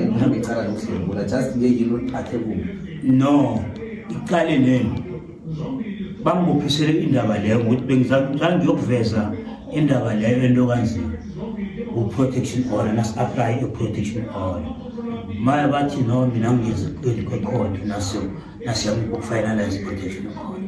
ngihambe icala lokudlwengula just nje yini oliphathe kubo no iqale lelo bangibophisele indaba leyo ngokuthi bengizangiyokuveza indaba leyo ento kanzima u-protection order nasi-aplaye i-protection order maya bathi no mina ngiyenza kwekhodi nasiyamukufayinalize i-protection order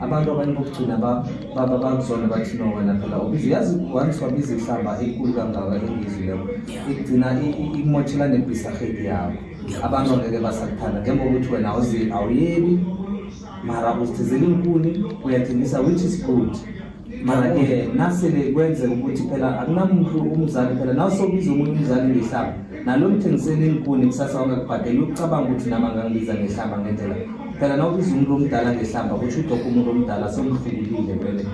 abantu abanye bokugcina baba bakuzona bathi no wena phela ubizi yazi once wabiza ihlamba enkulu kangaka engizileko igcina ikumotshela nebhisahedi yakho abantu angeke basakuthanda njengoba ukuthi wena awuyebi mara uzithizela inkuni uyathengisa which is good mara-ke nasele kwenzeka ukuthi phela akunamuntu umzali phela nawusobiza omunye umzali ngehlaba nalo mthengiseni inkuni kusasa wangakubhadeli ucabanga ukuthi nami angangibiza ngehlamba ngendlela phela nawubiza umuntu omdala ngehlamba kusho udokho umuntu omdala somhlukulile vele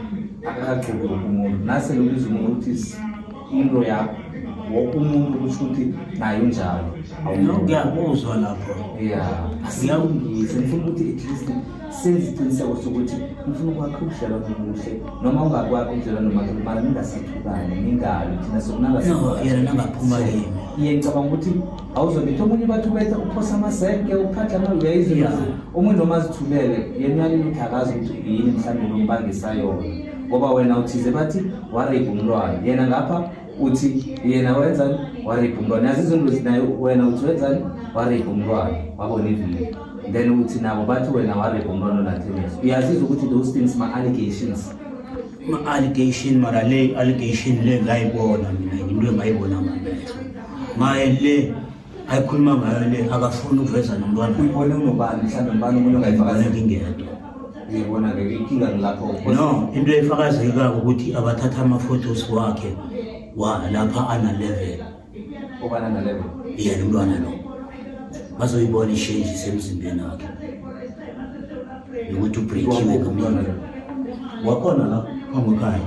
akakagxoki wonke umuntu nase lobiza umuntu ukuthi into yakho wonke umuntu kusho ukuthi naye unjalo ngiyakuzwa lapho ya asiyawungise ngifuna ukuthi at least senza isiqiniseko sokuthi ngifuna ukwakha ubudlelwano obuhle noma ungakwakha ubudlelwano nomakhelwane ningasathukane ningabi thina sokunangaphuma kimi iye ngicabanga ukuthi awuzobetha omunye ubathi ubetha uphosa amasenke uphatha amali uyayizula omunye noma azithulele yena uyalile ukuthi akazi ukuthi yini mhlawumbe lombangisayona ngoba wena uthize bathi wareyibha umntwana yena ngapha uthi yena wenzani waripha umntwana yazi izinto zinayo wena uthi wenzani waripha umntwana wabona iviyo then uthi nabo bathi wena waripha umntwana onathemesi uyazizwa ukuthi those things ma-allegations ma-allegation mara le allegation le ngayibona mina into engayibona ngamehlo maye le ayikhuluma ngayo le akafuni ukuveza nomntwana uyibone unobani mhlawumbe mbani umuntu ongayifakazela ingedwa uyibona ke inkinga ngilapho no into efakazeka ukuthi abathatha ama photos wakhe wa lapha ana level obana na level yena umntwana lo bazoyibona ishenji semzimbeni wakhe nokuthi ubreakiwe kamntwana wakhona la phambi ekhaya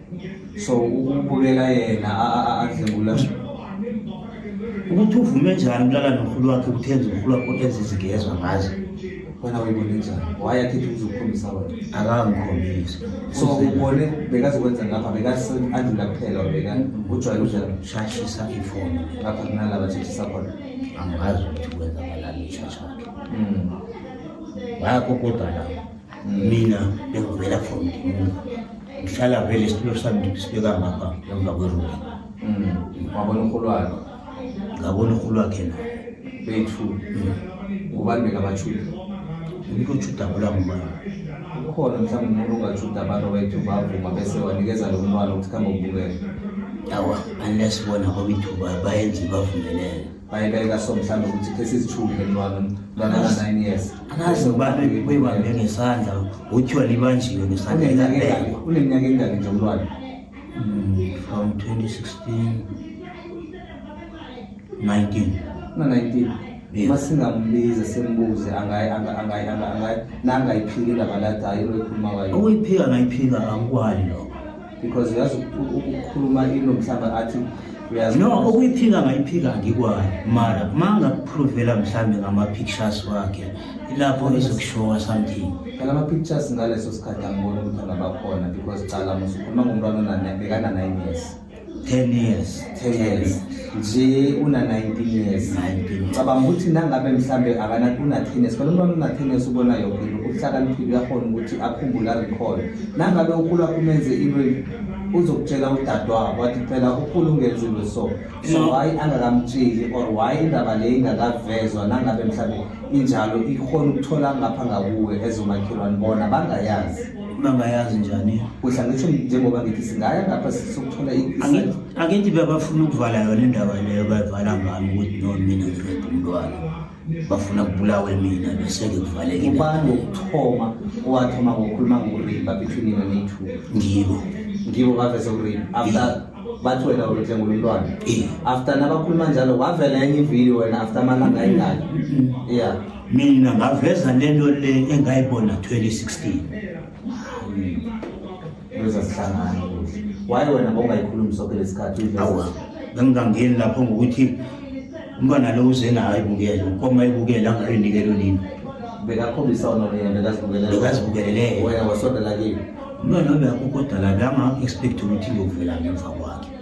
so ukubukela yena adlengula ukuthi uvume njani ukulala nomkhulu wakhe ukuthenza umkhulu wakho enza izigezwa ngazo wena uyibone njani wayakhithi uzokukhombisa wena akangikhombisi so ubone bekazokwenza ngapha bekaandlula kuphela beka ujwayele udlela shashisa ifoni ngapha kunalaba shashisa khona angazi ukuthi kwenzakalani ishashakhe hmm. wayakokodwa lapho mina bengivela from ndimuni ngihlala vele isitulo sami ndisibeka ngapha emva kwerumu wabona umholo wakhe ngabona umholo wakhe na bethu ngubani bekabatshuda umuntu otshudabula ngubani ukhona mhlawumbe umuntu ongatshuda abantu bethu bavuma bese wanikeza lo mntwana ukuthi khambe ubukele awa unless bona kwabethu bayenze bavumelele bayibeka so mhlawumbe ukuthi khe sizithule mntwana mntwana ka 9 years akaze ubani bebambe ngesandla uthiwa libanjiwe ngesandla elabekwa uneminyaka engaki nje umntwana hmm, from 2016 19 na 19 uma singambiza simbuze nangayiphika indaba ladayo loyikhuluma wayo ukuyiphika ngayiphika angikwali lokho because uyazi ukukhuluma into mhlawumbe athi no ukuyiphika ngayiphika ngikwayo mara uma ngakuphrovela mhlawumbe ngama-pictures wakhe ilapho ezokushowa something phela ama-pictures ngaleso sikhathi angibona ukuthi angabakhona because cala musukhuluma ngomntwana bekana-nine years ten years 10 years nje una 19 years 19 cabanga ukuthi nangabe mhlambe akana kuna 10 years kodwa umntwana una 10 years ubona yonke into uhlakaniphile uyakhona ukuthi akhumbule recall nangabe ukhula kumenze into uzokutshela udadewabo wathi phela ukhulu ungenzile so so mm. why angakamtsheli or why indaba le ingakavezwa nangabe mhlawumbe injalo ikhona ukuthola ngapha ngakuwe ezomakhelwane bona bangayazi bangayazi njani kudla ngisho njengoba ngithi singaya ngapha sokuthola angithi bebafuna ukuvala yona indaba leyo bayivala ngami ukuthi no mina ngireda umntwana bafuna kubulawe mina bese-ke kuvaleke ubani wokuthoma owathoma ngokukhuluma ngokurimba between yena nethu ngibo ngibo bavese ukurimba after bathi wena ulethe ngolulwane after nabakhuluma njalo wavela enye ividiyo wena after amalanga ayingaki mm-hmm. ya mina ngaveza lento le engayibona 2016 leza sihlangana waye wena bongayikhulumi soke lesikhathi awa bengingangeni lapho ngokuthi umntwana lo uze nayo ayibukele ukoma ayibukele angayinikelo nini bekakhombisa ona bekazibukelele wena wasondela kimi umntwana obekho kodwa la banga-expect ukuthi ngiyovela ngemva kwakhe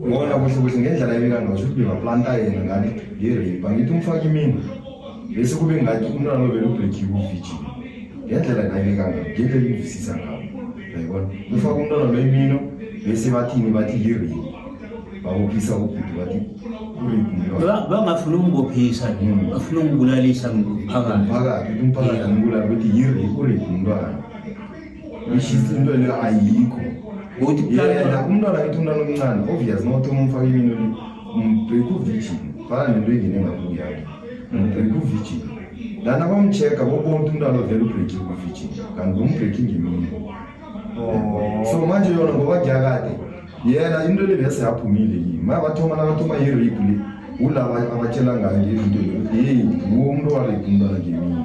Ngona kusho ukuthi ngendlela ebika ngayo ukuthi bebaplanta yena ngani ngerape angithi umfake imina bese kube ngathi umntwana lo belubrekiwe uvijini ngendlela ngayibika ngayo ngeke ingivisisa ngayo yayibona ufake umntwana lo imino bese bathini bathi yirape babophisa ubhuti bathi bangafuna ukungibophisa hmm. bafuna ukungibulalisa ngiphakathi umphakathi umbulala ukuthi yirape urape umntwana ishisa into leyo ayikho ukuthi yena umntwana kithi umntwana omncane obvious not umfake imini oli umbheka uvirgin fana nento engene ngakho yakhe umbheka uvirgin lana bamcheck-a bobonke umntwana ovela ubreaking uvirgin kanti bombreaking imini oh. so manje yona ngoba kuyakade yena into le bese yaphumile yini maya bathoma nakathoma yirape le ulaba abatshela ngayo ngezinto heyi nguwo umuntu owarepe umntwana ngemini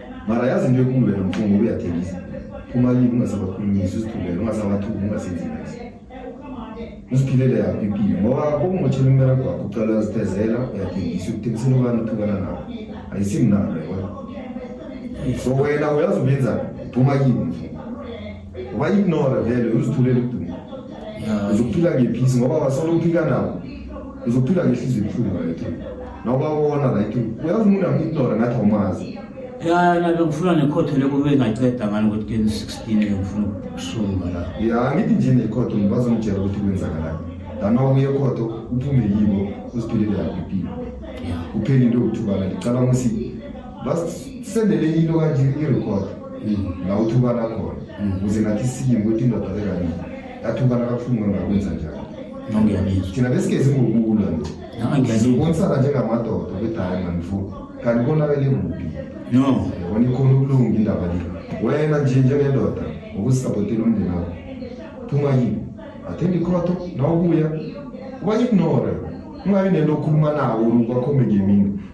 mara yazi into ekulu wena mfo ngoba uyathengisa kumalini ungasabakhulumisi uzithulele ungasabathuki ungasenzi nasi uziphilele yakho impilo ngoba kokungothela umbereko wakho ucala uyazithezela uyathengisa ukuthengisela ubani uthukana nawo ayisimnalo yona so wena uyazi ubenzani phuma kimi mfo wayignora vele uzithulela ukuduma uzokuphila ngephisi ngoba wasolo uphika nawo uzokuphila ngehliziyo ebuhlungu right nawubabona right uyazi umuntu amuignora ngathi awumazi ya nabe ngifuna nekhotho leko bengaceda ngani ukuthi keni sixteen ngifuna ukusunga la ya ngithi nje nekhotho ngibazongitshela ukuthi kwenzakalani lana uye khotho uphume yibo uziphelele yakho impilo uphele into yokuthukana ngicabanga ukuthi basisendele into kanje irecord la uthukana khona ukuze nathi siye ngokuthi indoda lekanini yathukana kabuhlungu engakwenza njalo thina besigezi ngokulwa nje sibonisana njengamadoda ukuthi hayi manifo kanti konakele kuphi no yabona ikhona ukulunga indaba le wena nje njengendoda ngokusisabhotela umndeni wakho phuma yini athembe ikhotho nawubuya ubayignore ungabi nento okhuluma nawo kwakhombe ngemini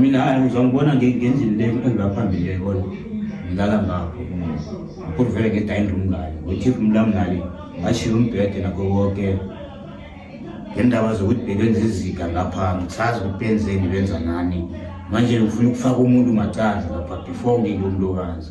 mina hayi uzangibona ngendlini le engibaphambili le kona ngilala ngakho ngikho vele ngedayini room ngale ngothifu umlam ngale ngashiya umbhede nakho konke ngendaba zokuthi bebenza izika lapha ngisazi ukuthi benzeni benza nani manje ngifuna ukufaka umuntu macandla lapha before ngike umlokazi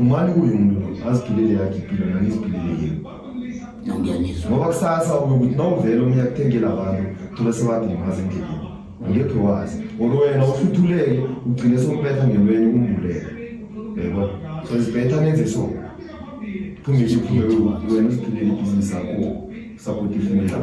Umani kuyo umuntu aziphilele yakhe impilo nani iziphilele yini. Ngiyanizwa. Ngoba kusasa ube ukuthi nawuvele omunye akuthengela abantu thola sebadilimaza endleleni. Ngeke wazi. Ngoba wena usuthuleke ugcine sombetha ngelweni umbulele. Yebo. So isibetha nenze so. Phuma nje phuma wena uziphilele ibhizinisi lakho. Sakuthi ifimela.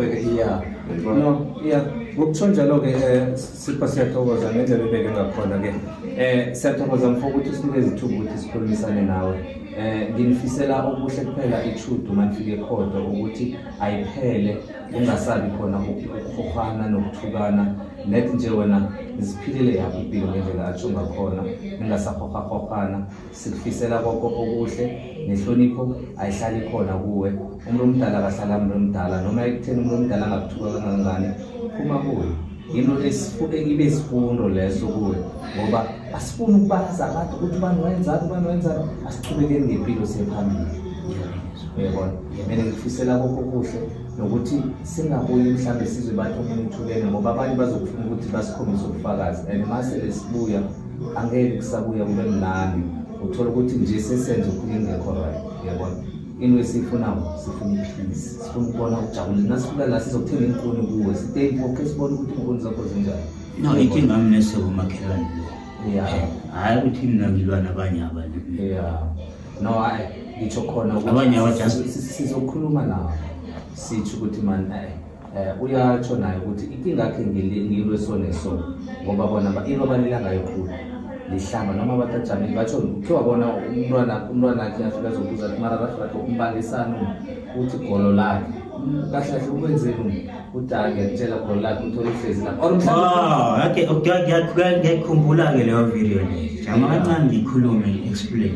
Yebo. No, yeah. Ngokuthonjalo ke eh, Sipho siyathokoza ngendlela ubeke ngakhona ke eh siyathokoza mfo ukuthi usinike izithuba ukuthi sikhulumisane nawe eh nginifisela okuhle kuphela ichudu manifike khodo ukuthi ayiphele ungasabi khona ukukhofana nokuthukana net nje wena ziphilile yakho impilo ngendlela atsho ngakhona ningasakhokhakhokana sikufisela konke okuhle nehlonipho ayihlali khona kuwe umuntu omdala akahlala umuntu omdala noma ekutheni umuntu omdala angakuthuka kangangani phuma kuwe yinto ibe sifundo leso kuwe ngoba asifuni ukubalaza abantu ukuthi ubani wayenzani ubani wayenzani asichubekeni ngempilo siyephambili uyabona mina ngifisela kokho kuhle nokuthi singabuyi mhlawumbe sizwe bathi omunye uthulene ngoba abanye bazokufuna ukuthi basikhombise ubufakazi and masele sibuya angeke kusabuya kube mnandi uthola ukuthi nje sesenze okhunye engekho right yabona into esiyifunayo sifuna iphilisi sifuna ukubona ukujabula nasifika la sizokuthenga inkuni kuwe sitey boke sibone ukuthi inkuni zakho zinjani no inkinga mi nesokomakhelwane ya hhayi ukuthi mina ngilwa nabanye abantu ya no hayi ngitsho khona abanye abajasizokhuluma nawo sitsho ukuthi mani Eh uyatsho naye ukuthi inkinga yakhe ngilwe sone so ngoba bona into abalila ngayo khulu lihlamba noma abantu ajamile batsho kuthiwa bona umntwana umntwana akhe afika azobuza ukuthi mara kahle kahle umbangisani uthi golo lakhe kahle kahle ukwenzeni udala ngiyakutshela golo lakhe uthole ihlezi la or mhlawumbe ngiyakhumbula-ke leyo video leyo jama kancane ngikhulume explain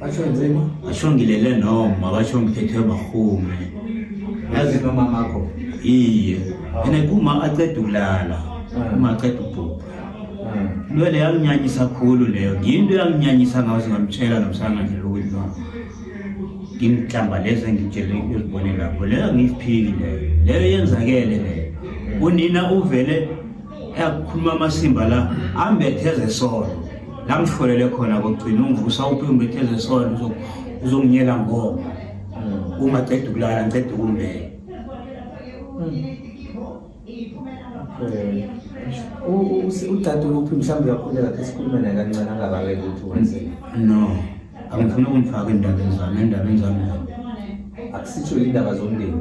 basho nzima basho ngilele noma basho ngithethwe bahume yazi nomama akho iye ene kuma aqeda ukulala ah. uma aqeda ubhubha ah. lwele yanginyanyisa khulu leyo ngiyinto yanginyanyisa ngawo singamtshela nomsana nje ukuthi no ngimhlamba lezi engitshele ukuzibone lapho leyo angiyiphiki leyo leyo yenzakele leyo unina uvele eyakukhuluma amasimba la ambetheze solo la ngihlolele khona kokugcina ungivusa uphi umbetheze solo uzonginyela ngoma hmm. uma ceda ukulala ngiceda ukumbeka hmm. udade uphi mhlawumbe uyakhuleka khe sikhulume naye kancane angabaleki ukuthi wenzeni no angifuni ukungifaka endabeni zami endabeni zami akusitsho indaba zomndeni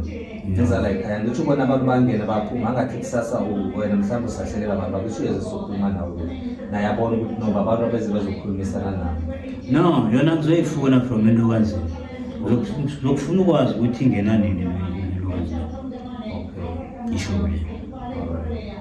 ngenza la ekhaya ngitho ubona abantu bangena baphuma angathi kusasa wena mhlawumbe usahlelela abantu bakusho yeze sokhuluma nawo naye abona ukuthi noba abantu abeze bezokhulumisana nabo no yona kuzoyifuna from into kanzima zokufuna ukwazi ukuthi ingena nini lwazi isho le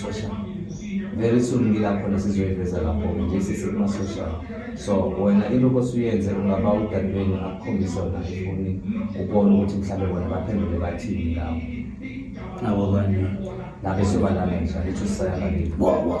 so sha very soon ngilakhona sizoyiveza lapho nje sisekumasosha so wena ilokho suyenze ungaba udadweni akukhombisa wona ifoni ubone ukuthi mhlawumbe bona baphendule bathini ngawo abo bani nabe sobalala nje lithu sisayabaliwa